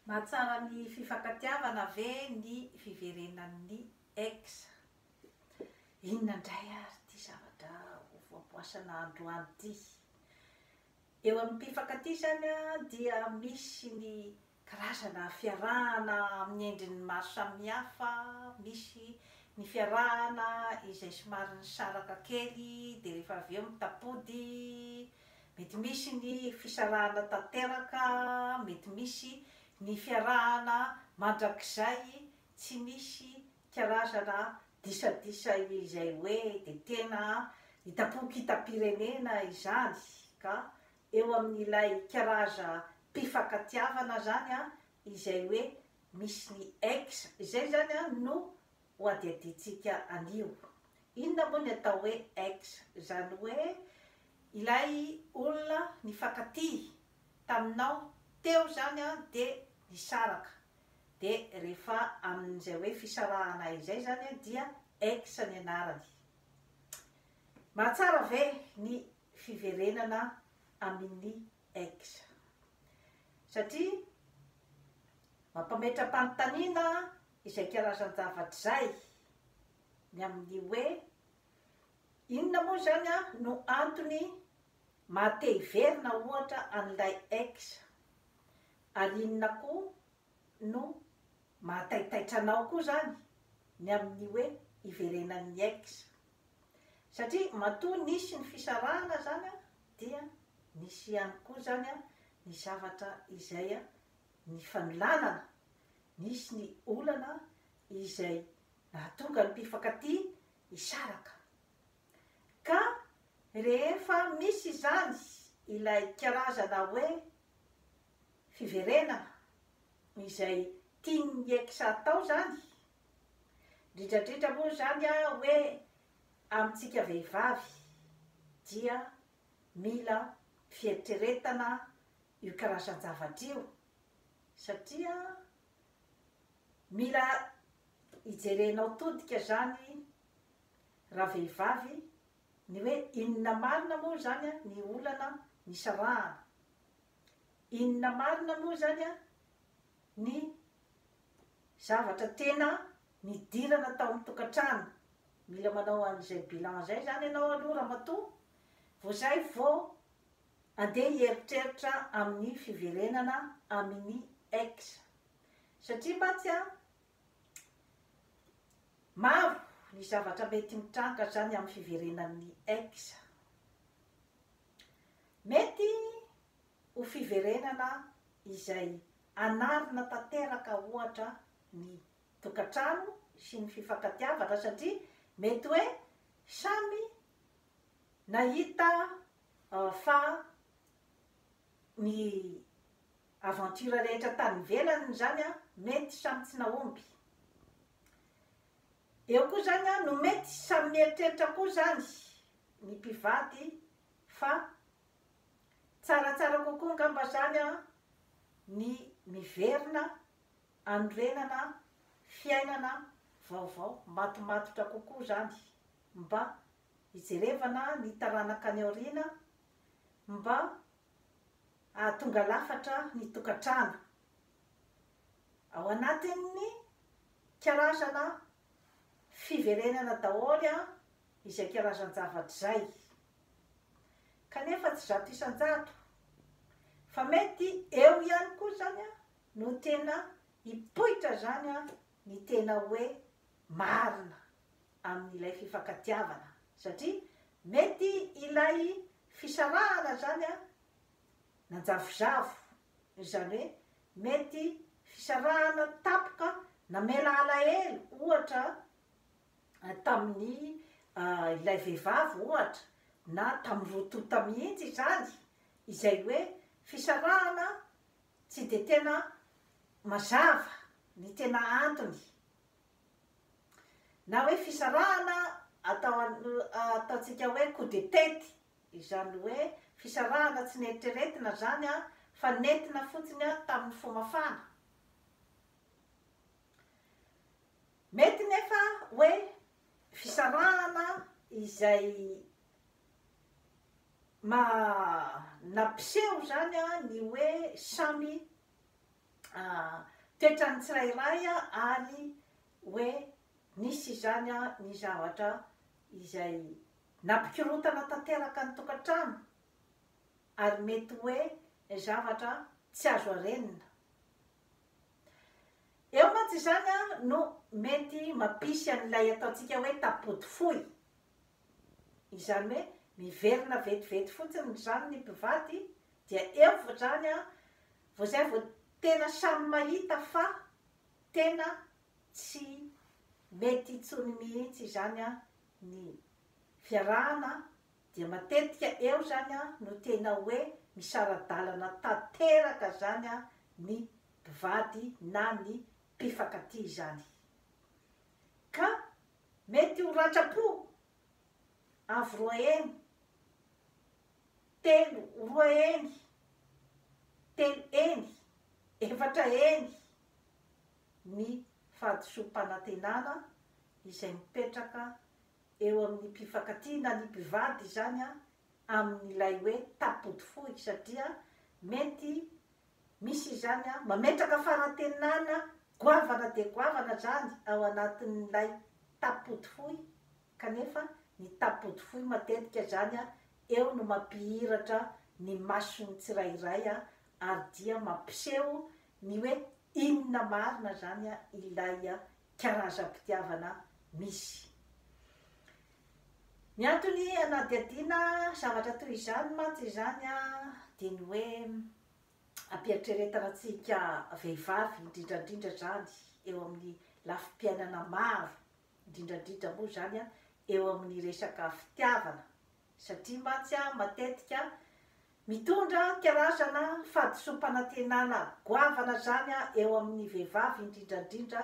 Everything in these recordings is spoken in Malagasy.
Mahatsara ny fifankatiavana ve ny fiverenan'ny ex? Inona indray ary ity zavatra ho voaboasana androany ity? Eo amin'ny mpifankatia izany dia misy ny Karazana fiarahana amin'ny endriny maro samihafa, misy ny fiarahana izay somary nisaraka kely dia rehefa avy eo mitapody, mety misy ny fisarahana tanteraka, mety misy ny fiarahana mandrakizay tsy misy karazana disadisa izay hoe dia tena hitapoam-pitam-pirenena izany ka eo amin'ilay karaza mpifankatiavana zany an izay hoe misy ny ex izay zany an no ho adiadintsika anio. Inona moa ny atao hoe ex? Zany hoe ilay olona nifankatia taminao teo zany an de nisaraka de rehefa amin'izay hoe fisarahana izay zany dia ex ny anarany. Mahatsara ve ny fiverenana amin'i X. Satria mampametra-panontaniana izay karazan-javatra izay ny amin'ny hoe, inona moa izany no antony maha-te-hiverina ohatra an'ilay X, ary inona koa no Mahataitaitra anao koa izany ny amin'ny hoe hiverenan'ny ex. Satria matoa nisy ny fisarahana izany dia nisy ihany koa izany ny zavatra izay nifanolanana, nisy ny olana izay nahatonga ny mpifankatia hisaraka. Ka rehefa misy izany ilay karazana hoe. fiverenana izay tian'ny ex atao izany, indrindradrindra moa izany hoe amintsika vehivavy dia mila fieritreretana io karazan-javatra io satria mila ijerenao todika izany raha vehivavy ny hoe inona marina moa izany ny olana nisarahana. Inona marina moa izany ny zavatra tena nidirana tao amin'ny tokantrano? Mila manao an'izay bilan izay izany ianao aloha ramatoa vao zay vao andeha hieritreritra amin'ny fiverenana amin'ny ex satria mantsy an maro ny zavatra mety mitranga zany amin'ny fiverenan'ny ex. Mety ho fiverenana izay anarina tanteraka ohatra ny tokantrano sy ny fifankatiavana satria mety hoe samy nahita fa ny aventure rehetra tany ivelany zany an mety samy tsy nahomby. Eo koa zany an no mety samy mieritreritra koa zany ny mpivady fa tsaratsara kokoa angamba izany an ny miverina anorenana fiainana vaovao, matomatotra kokoa izany mba hijerevana ny taranaka any aoriana, mba hahatonga lafatra ny tokantrano ao anatin'ny karazana Fiverenana daholo an izay karazan-javatra izay. Kanefa tsy zato isan-jato. Fa mety eo ihany koa izany an no tena hipoitra izany an ny tena hoe marina amin'ilay fifankatiavana. Satria mety ilay fisarahana izany an nanjavozavo. izany hoe mety fisarahana tapoka namela alahelo ohatra tamin'ny ilay vehivavy ohatra na tamin'ny roa tonta mihitsy izany izay hoe fisarahana tsy dia tena mazava ny tena antony na hoe fisarahana atao ataontsika hoe coup de tete izany hoe fisarahana tsy neritreretina izany an, fa nentina fotsiny an tamin'ny fo mafana. Mety nefa hoe fisarahana izay ma nampiseho izany an ny hoe samy toetran'ny tsirairay ary hoe nisy izany ny zavatra izay nampikorontana tanteraka ny tokantrano ary mety hoe zavatra tsy azo arenina. Eo mantsy izany no mety mampisy an'ilay ataontsika hoe tampody fohy. Izany hoe miverina vetivety fotsiny izany ny mpivady Dia eo izany an, vao izay vao tena samy mahita fa tena tsy mety intsony mihitsy izany an, ny fiarahana an, dia matetika eo izany an no tena hoe misara-dalana tanteraka izany an ny mpivady na ny mpifankatia izany. Ka mety ho ratram-po avy roa heny. Telo, roa heny, telo heny, efatra heny ny fahadisoam-panantenana izay mipetraka eo amin'ny mpifankatia na ny mpivady izany amin'ilay hoe tapotifohy satria mety misy izany mametraka fanantenana goavana dia goavana izany ao anatin'ilay tapotifohy Kanefa ny tapody fohy matetika izany eo no mampihiratra ny mason'ny tsirairay ary dia mampiseho ny hoe inona marina izany ilay karazam-pitiavana misy. Ny antony hanadihadiana zavatra toy izany mantsy izany dia ny hoe ampiheritreretanantsika vehivavy indrindrandrindra izany eo amin'ny lafim-piainana maro indrindra indrindra moa izany eo amin'ny resaka fitiavana satria mantsy matetika mitondra karazana fahadisoam-panantenana goavana izany eo amin'ny vehivavy indrindra indrindra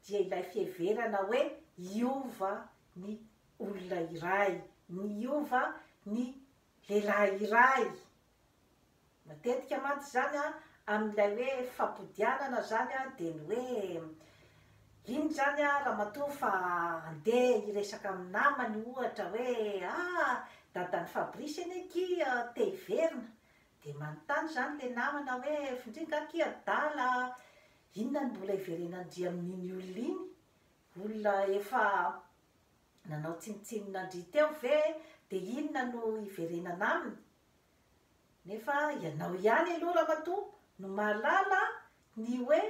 dia ilay fiheverana hoe hiova ny olona iray, ny hiova ny lehilahy iray. Matetika mantsy izany an, amin'ilay hoe fampodianana izany an, dia ny hoe, iny izany an, ramatoa fa andeha hiresaka amin'ny namany ohatra hoe, ah! dadan'i Fabrice anie aky te hiverina. Dia manontany izany ilay namana hoe, f'ndry nga aky adala an, inona no mbola hiverenan-dry amin'iny olona iny? Olona efa nanao tsinontsinona an-dry teo ve? Dia inona no hiverenana aminy? Nefa ianao ihany aloha ramatoa no mahalala ny hoe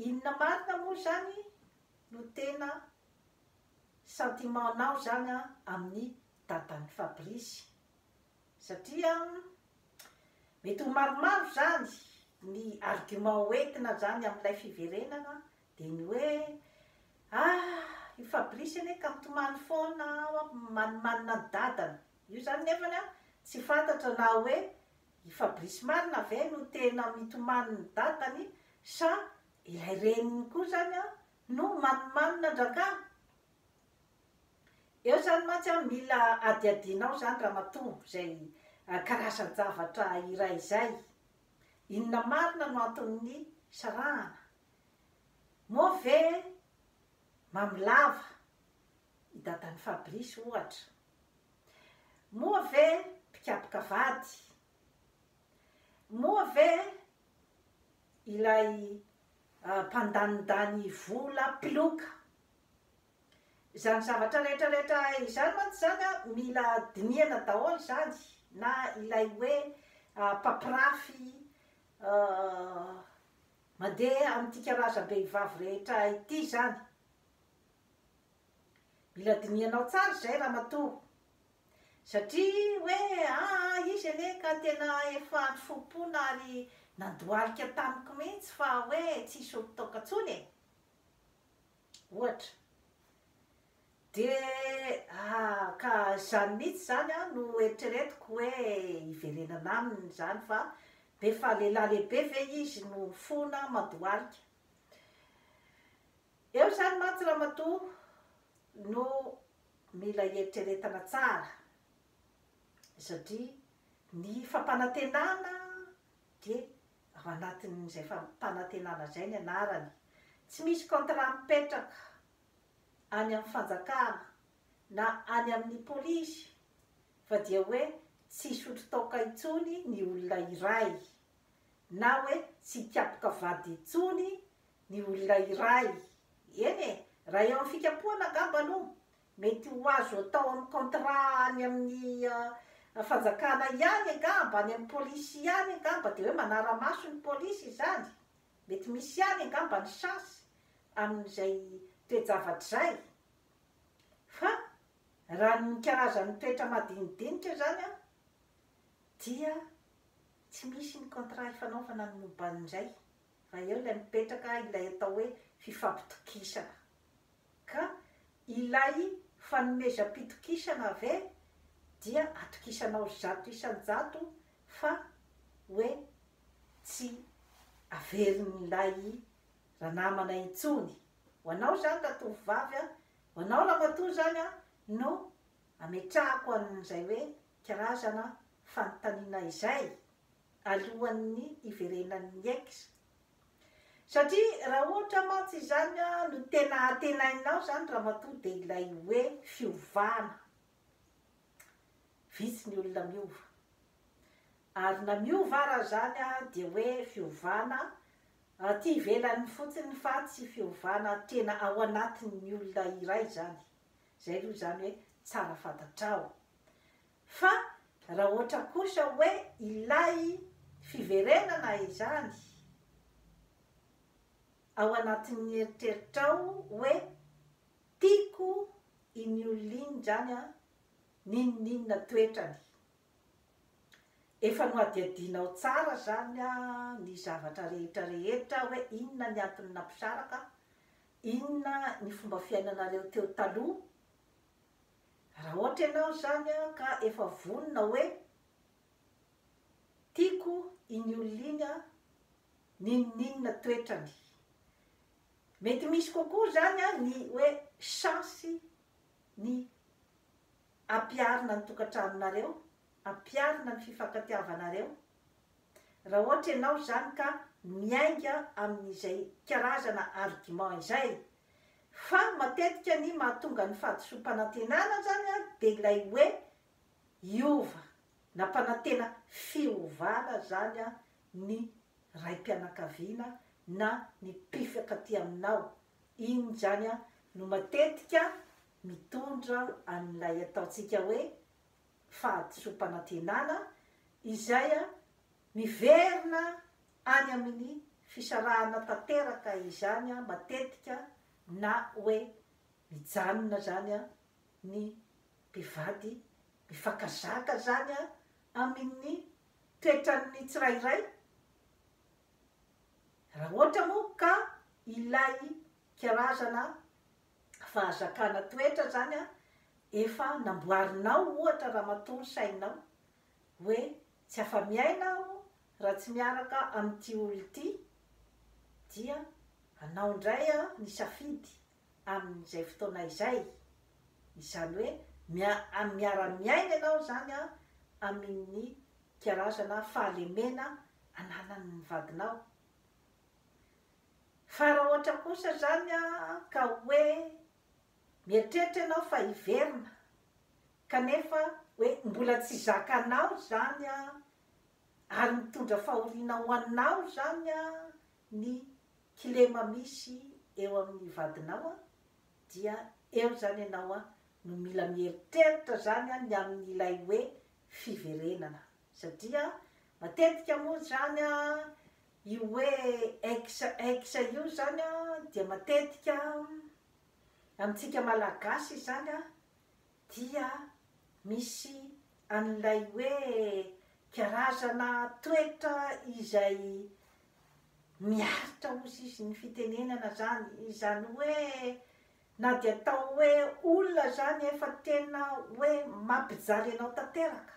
inona marina moa izany no tena sentiment-nao izany amin'i dadan'i Fabrice. Satria mety ho maromaro izany ny argument hoentina izany amin'ilay fiverenana dia ny hoe ah i Fabrice anie ka mitomany foana manimanina ny dadany. Io izany nefany tsy fantatra na hoe i Fabrice marina ve no tena mitomany ny dadany sa ilay reniny koa izany no manimanina an-drangahy? Eo izany mantsy an mila adihadianao izany ramatoa izay karazan-javatra iray izay. Inona marina no anton'ny sarahana? Moa ve mamy lava i dadan'i Fabrice ohatra? Moa ve mpikapoka vady? Moa ve ilay mpandanindany vola mpiloka? Izany zavatra rehetra rehetra izany mantsy izany an, mila dinihana daholo izany, na ilay hoe mpampirafy mandeha amin'ity karazam-behivavy rehetra ity izany. Mila dinihanao tsara izay ramatoa. Satria hoe aa izy anie ka tena efa nifompona ary nandohalika tamiko mihitsy fa hoe tsisy olo toaka tsony e. Ohatra. Dia aa ka izany mihitsy izany an no eritreretiko hoe hiverenana aminy izany fa be fa lehilahy lehibe ve izy no mifona mandohalika. Eo izany mantsy ramatoa no mila hieritreretana tsara satria ny fampanantenana dia ao anatin'izay fampanantenana izay ny anarany. Tsy misy contrat mipetraka any amin'ny fanjakana na any amin'ny polisy fa dia hoe tsy hisotro toaka intsony ny olona iray na hoe tsy hikapoka vady intsony Ny olona iray. Eny e, raha eo amin'ny fikapohana angamba aloha, mety ho azo atao amin'ny contrat any amin'ny fanjakana ihany angamba, any amin'ny polisy ihany angamba, dia hoe manara-maso ny polisy izany. Mety misy ihany angamba ny chance amin'izay toe-javatra izay. Fa raha ny karazan'ny toetra madinidinika izany an, dia tsy misy ny contrat ifanaovana ny momba an'izay. raha eo ilay mipetraka ilay atao hoe fifampitokisana. Ka ilay fanomezam-pitokisana ve dia atokisanao zato isan-jato fa hoe tsy averin'ilay ranamana intsony? Ho anao izany ratovovavy an, ho anao ramatoa izany no ametrahako an'izay hoe karazana fanontaniana izay. alohan'ny hiverenan'ny ex. Satria raha ohatra mantsy izany no tena antenainao izany ramatoa dia ilay hoe fiovana. Vitsy ny olona miova. Ary na miova ara izany dia hoe fiovana aty ivelany fotsiny fa tsy fiovana tena ao anatin'ny olona iray izany. Izay aloha izany hoe tsara fantatrao. Fa raha ohatra kosa hoe ilay fiverenana izany ao anatin'ny eritreritrao hoe tiako iny olona iny izany an, n'inon'inona toetrany. Efa nohadihadianao tsara izany ny zavatra rehetra rehetra hoe inona ny antony nampisaraka, inona ny fomba fiainanareo teo taloha, Raha ohatra ianao izany ka efa vonona hoe tiako iny olona iny n'inon'inona toetrany. Mety misy kokoa izany ny hoe chance ny hampiharina ny tokantranonareo, hampiharina ny fifankatiavanareo. Raha ohatra ianao izany ka miainga amin'izay karazana argument izay Fa matetika ny mahatonga ny fahadisoam-panantenana zany dia ilay hoe hiova na mpanantena fiovana zany ny raim-pianakaviana na ny mpify akaty aminao, iny zany no matetika mitondra an'ilay ataontsika hoe fahadisoam-panantenana izay miverina Any amin'ny fisarahana tanteraka izany matetika na hoe mijanona izany ny mpivady, mifankazaka izany amin'ny toetran'ny tsirairay, raha ohatra moa ka ilay karazana fahazakana toetra izany efa namboarinao ohatra ramatoa ny sainao hoe tsy afa-miaina aho raha tsy miaraka amin'ity olona ity, dia anao indray ny safidy amin'izay fotoana izay. Izany hoe miara-miaina ianao izany amin'ny karazana fahalemena ananan'ny vadinao. Fa raha ohatra kosa izany ka hoe mieritreritra ianao fa hiverina, Kanefa hoe mbola tsy zakanao izany an, ary mitondra fahoriana ho anao izany an ny kilema misy eo amin'ny vadinao an, dia eo izany ianao an no mila mieritreritra izany an ny amin'ilay hoe fiverenana. Satria matetika moa izany an io hoe ex ex io izany an dia matetika an amintsika malagasy izany an dia misy an'ilay hoe karazana toetra izay miaritra hozy izy ny fitenenana zany, izany hoe na dia atao hoe olona zany efa tena hoe mampijaly anao tanteraka,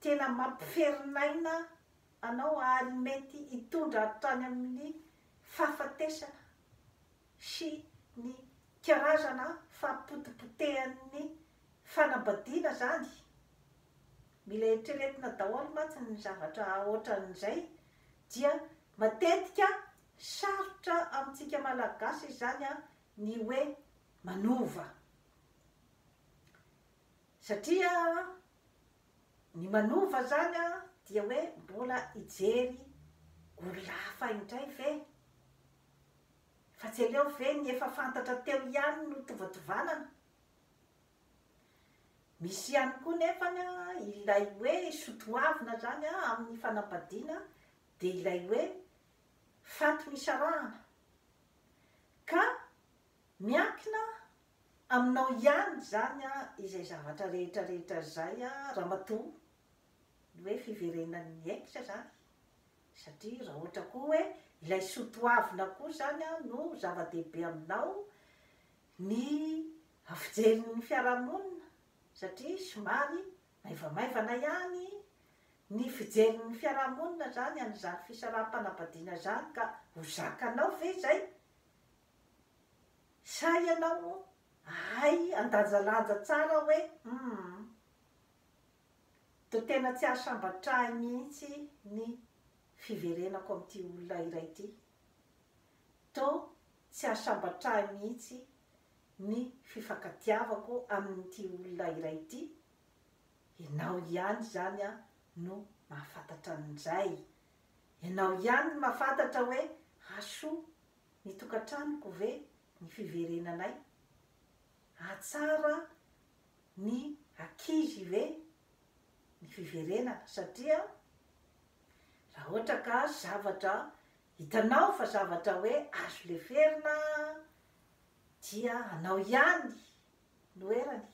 tena mampiferin'aina anao ary mety hitondra hatrany amin'ny fahafatesana. sy ny karazana fahapotepotehan'ny fanambadiana zany, mila eritreretina daholo mantsy ny zavatra otran'izay dia matetika sarotra amintsika malagasy izany ny hoe manova satria ny manova zany dia hoe mbola hijery olona hafa indray ve? Fa tsy aleo ve ny efa fantatra teo ihany no tovantovanana? Misy ihany koa nefa ilay hoe sotoavina zany amin'ny fanambadiana dia ilay hoe faty misarahana. Ka miankina aminao ihany zany izay zavatra rehetra rehetra izay ramatoa, ny hoe fiverenan'ny ex zany Satria raha ohatra koa hoe ilay soa toavina koa izany an no zava-dehibe aminao ny fijery ny fiarahamonina satria somary maivamaivana ihany ny fijery ny fiarahamonina izany an'izany fisaraham-panambadiana izany ka ho zakanao ve izay? Sa ianao ahay handanjalanja tsara hoe humm. Dia tena tsy ahasambatra ahy mihitsy ny fiverenako amin'ity olona iray ity. Toa tsy ahasambatra ahy mihitsy ny fifankatiavako amin'ity olona iray ity, ianao ihany izany an no mahafantatra an'izay. Ianao ihany no mahafantatra hoe hahasoa ny tokantranoko ve ny fiverenanay. Hahatsara ny ankizy ve ny fiverenana? Satria raha ohatra ka zavatra hitanao fa zavatra hoe azo leferina dia anao ihany no erany.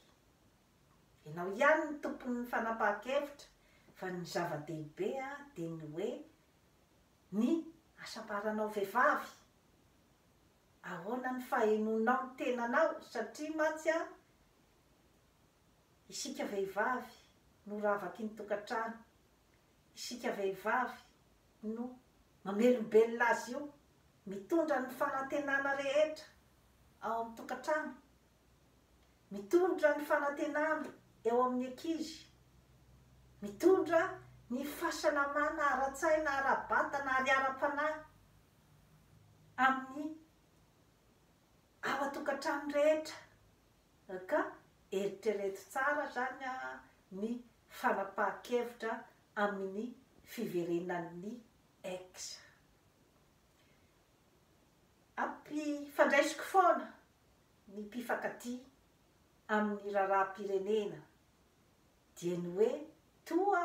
Ianao ihany no tompon'ny fanapahan-kevitra fa ny zava-dehibe dia ny hoe ny hasambaranao vehivavy. Ahoana ny fahenoanao ny tenanao satria mantsy an, isika vehivavy no ravaky ny tokantrano, isika vehivavy no mamelombelona azy io, mitondra ny fanantenana rehetra ao amin'ny tokantrano Mitondra ny fanantenana eo amin'ny ankizy. Mitondra ny fahasalamana ara-tsaina, ara-batana ary ara-panahy amin'ny ao an-tokantrano rehetra. Ka eritrereto tsara izany ny fanapahan-kevitra amin'ny fiverenan'ny ex. Ampifandraisiko foana. Ny mpifankatia amin'ny raharaham-pirenena dia ny hoe toa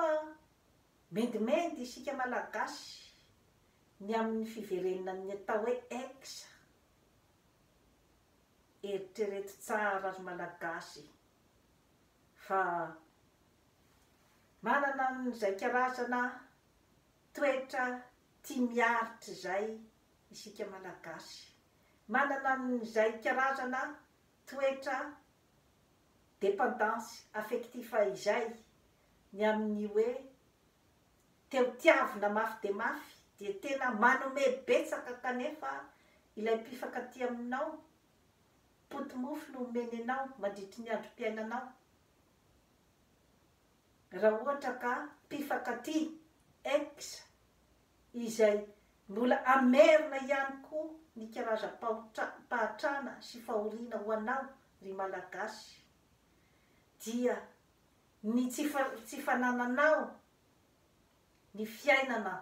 mendimendy isika Malagasy ny amin'ny fiverenan'ny atao hoe ex. Eritrereto tsara ry Malagasy fa manana an'izay karazana toetra tia miaritra izay isika Malagasy manana an'izay karazana toetra dependance affective izay, ny amin'ny hoe teo tiavina mafy dia mafy dia tena manome betsaka kanefa ilay mpifankatia aminao poti-mofo no omeny anao mandritry ny androm-piainanao raha ohatra ka mpifankatia, ex. izay mbola hamerina ihany koa ny karazam-pahatrana sy fahoriana ho anao ry Malagasy, dia ny tsy fanananao ny fiainana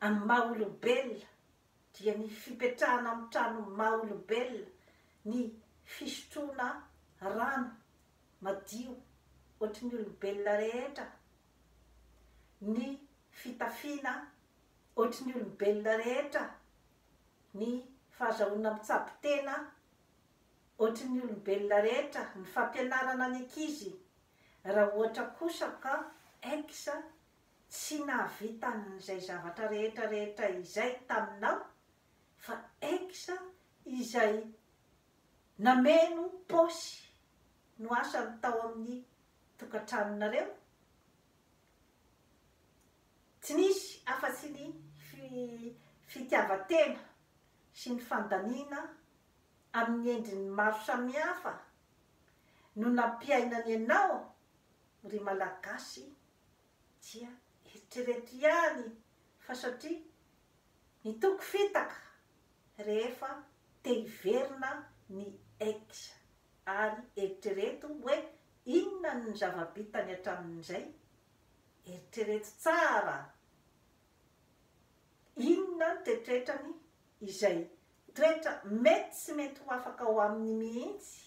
amin'ny maha olombelona, dia ny fipetrahana amin'ny tranon'ny maha olombelona, ny fisotroana rano madio ohatry ny olombelona rehetra ny fitafiana ohatry ny olombelona rehetra, ny fahazahoana mitsabo tena ohatry ny olombelona rehetra, ny fampianarana ny ankizy, raha ohatra kosa ka ex tsy nahavita an'izay zavatra rehetra rehetra izay taminao fa ex izay nameno paosy no asany tao amin'ny tokantranonareo? Tsy nisy afa-tsy ny fitiavan-tena sy ny fandaniana amin'ny endriny maro samihafa no nampiainany anao ry Malagasy dia eritrereto ihany fa satria nitoky fitaka rehefa te hiverina ny ex. Ary eritrereto hoe inona ny zava-bitany hatramin'izay. Eritrereto tsara inona ny toetraitrany, izay toetra mety tsy mety ho afaka ao aminy mihitsy.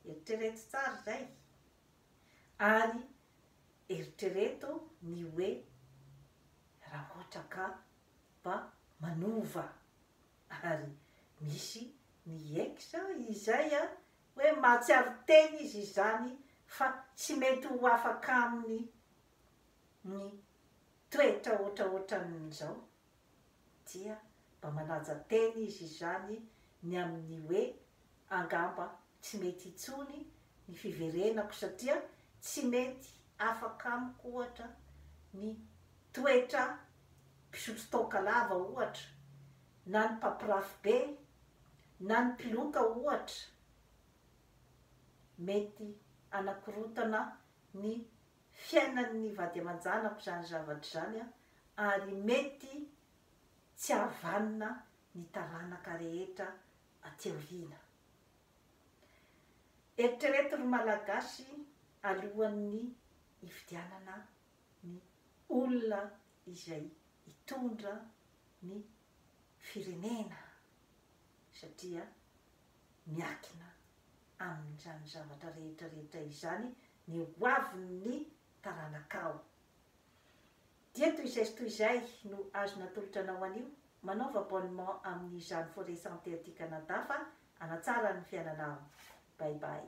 Eritrereto tsara izay. Ary eritrereto ny hoe raha ohatra ka mba manova ary misy ny ex izay a hoe mahatsiaro tena izy izany fa tsy mety ho afaka aminy ny toetra ohatraohatran'izao dia mba manaja tena izy izany ny amin'ny hoe angamba tsy mety intsony ny fiverenako satria tsy mety afaka amiko ohatra ny toetra mpisotro taoka lava ohatra na ny mpampirafy be na ny mpiloka ohatra mety anakorontana ny fiainan'ny vady aman-janako izany zavatra izany ary mety tsy hahavanona ny taranaka rehetra aty aoriana. Eritrereto ry Malagasy alohan'ny hifidianana ny olona izay hitondra ny firenena satria miankina amin'izany zavatra rehetra rehetra izany ny hoavin'ny taranakao. Dia toy izay sy toy izay no azo natolotra anao anio, manaova abonnement amin'ny Jeanne Forêt Santé aty Canada fa hanatsara ny fiainanao. Bye bye.